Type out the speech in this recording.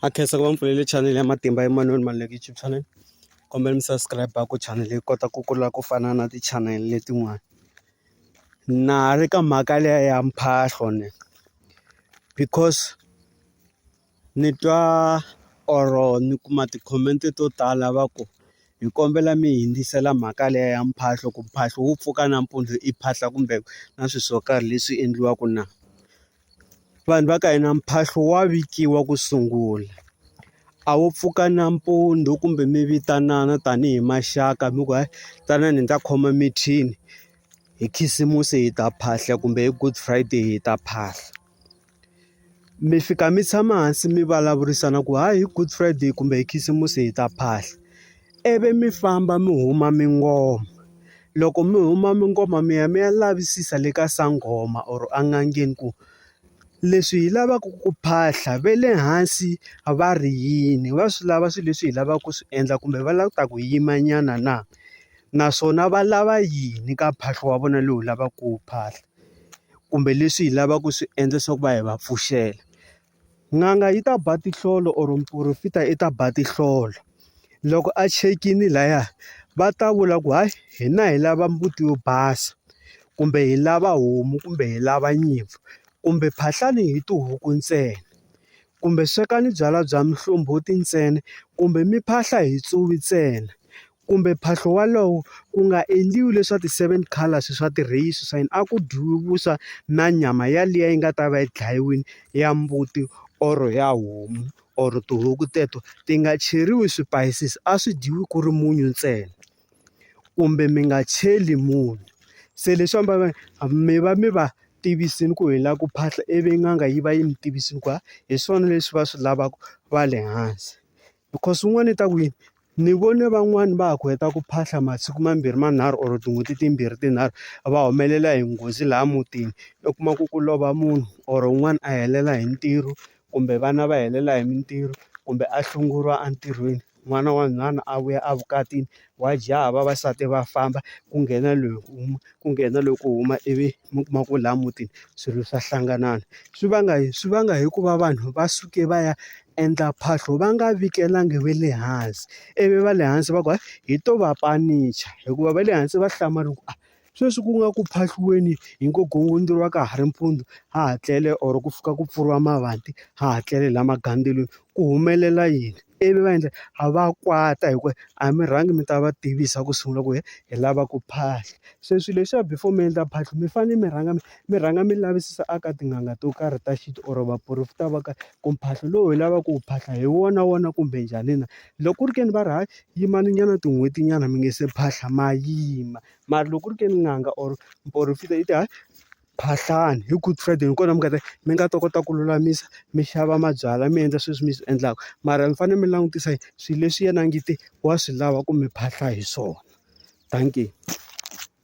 a khensa ku va mi pfulele chanele ya matimba Emmanuel Maluleke YouTube channel kombela mi subscribe ku chanele yi kota ku kula ku fana na ti channel letin'wana na ha ri ka mhaka leya ya mphahlo ni because ni twa or ni kuma ti-comment to tala va ku hi kombela mi hundzisela mhaka leya ya mphahlo ku mphahlo wu pfuka nampundzu i phahla kumbe na swi swo karhi leswi endliwaka na. vanhu va ka hina mphahlo wa vikiwa ku sungula a wu pfuka nampundzu kumbe mi vitanana tanihi maxaka mi ku hayi tanani hi ta khoma mithini hi khisimusi hi ta phahla kumbe hi good friday hi ta phahla mi fika mi tshama hansi mi vulavurisana ku hayi hi good friday kumbe hi khisimusi hi ta phahla. ivi mi famba mi huma mi ngoma loko mi huma mi ngoma mi ya mi ya lavisisa le ka sangoma or a n'angeni ku leswi hi lavaka ku phahla ve le hansi va ri yini va swi lava swilo leswi hi lavaka ku swi endla kumbe va lava ku ta ku yima nyana na naswona va lava yini ka mphahlo wa vona lowu lavaka ku wu phahla kumbe leswi hi lavaka ku swi endla swa ku va hi va pfuxela. N'anga yi ta ba tinhlolo or muporofita i ta ba tinhlolo loko a chekini laya va ta vula ku hayi hina hi lava mbuti yo basa kumbe hi lava homu kumbe hi lava nyimpfu kumbe phahlani hi tihuku ntsena kumbe swekani byalwa bya muhlombothi ntsena kumbe mi phahla hi tsuvi ntsena. kumbe mphahlo wolowo ku nga endliwi leswa ti-seven colours swa ti-race swa yini a ku dyiwe vuswa na nyama yaliya yi nga ta va yi dlayiwile ya mbuti or ya homu or tihuku teto ti nga cheriwi swipayisisi a swi dyiwi ku ri munyu ntsena kumbe mi nga cheli munyu se leswi ambala mi va mi va tivisile ku hi lava ku phahla ivi n'anga yi va yi mi tivisa ku hi swona leswi va swi lavaka va le hansi. Because swin'wana i ta ku yini ni vone van'wani va ha ku heta ku phahla masiku mambirhi manharhu or tin'hweti timbirhi tinharhu va humelela hi nghozi laha mutini u kuma ku ku lova munhu or un'wana a helela hi ntirho kumbe vana va helela hi mintirho kumbe a hlongoriwa entirhweni n'wana wa nhwana a vuya a vukatini wa jaha vavasati va famba ku nghena loyi ku nghena loyi ku huma ivi. mi kuma ku laha mutini swilo swa hlanganana. Swi vanga yini? Swi vanga hi ku va vanhu va suke va ya endla phahlo va nga vikelangi va le hansi, ivi va le hansi va ku hi to va panicha hikuva va le hansi va hlamala ku a sweswi ku nga ku phahliwini hi ngo gongondzoka ka ha ri mpundzu ha ha tlele or ku fika ku pfuriwa mavanti ha ha tlele laha magandzelo ku humelela yini? ivi va endla a va kwata hi ku a mi rhangi mi ta va tivisa ku sungula ku hi lava ku phahla se swilo leswiya before mi endla phahla mi fanele mi rhanga mi mi rhanga mi lavisisa eka tin'anga to karhi ta xintu or vaporofeta va ka ku mphahlo lowu hi lavaka ku wu phahla hi wona wona kumbe njhani na loko ku ri ke ni va ri hayi yimani nyana tin'hweti nyana mi nga se phahla ma yima mara loko ku ri ke ni n'anga or muporofeta yi ta hayi. mphahlani hi good friday hi kona mi nga ta mi nga ta kota ku lulamisa mi xava mabyalwa mi endla sweswi mi swi endlaka mara mi fanele mi langutisa swilo leswi yena a nge te wa swi lava ku mi phahla hi swona dankie.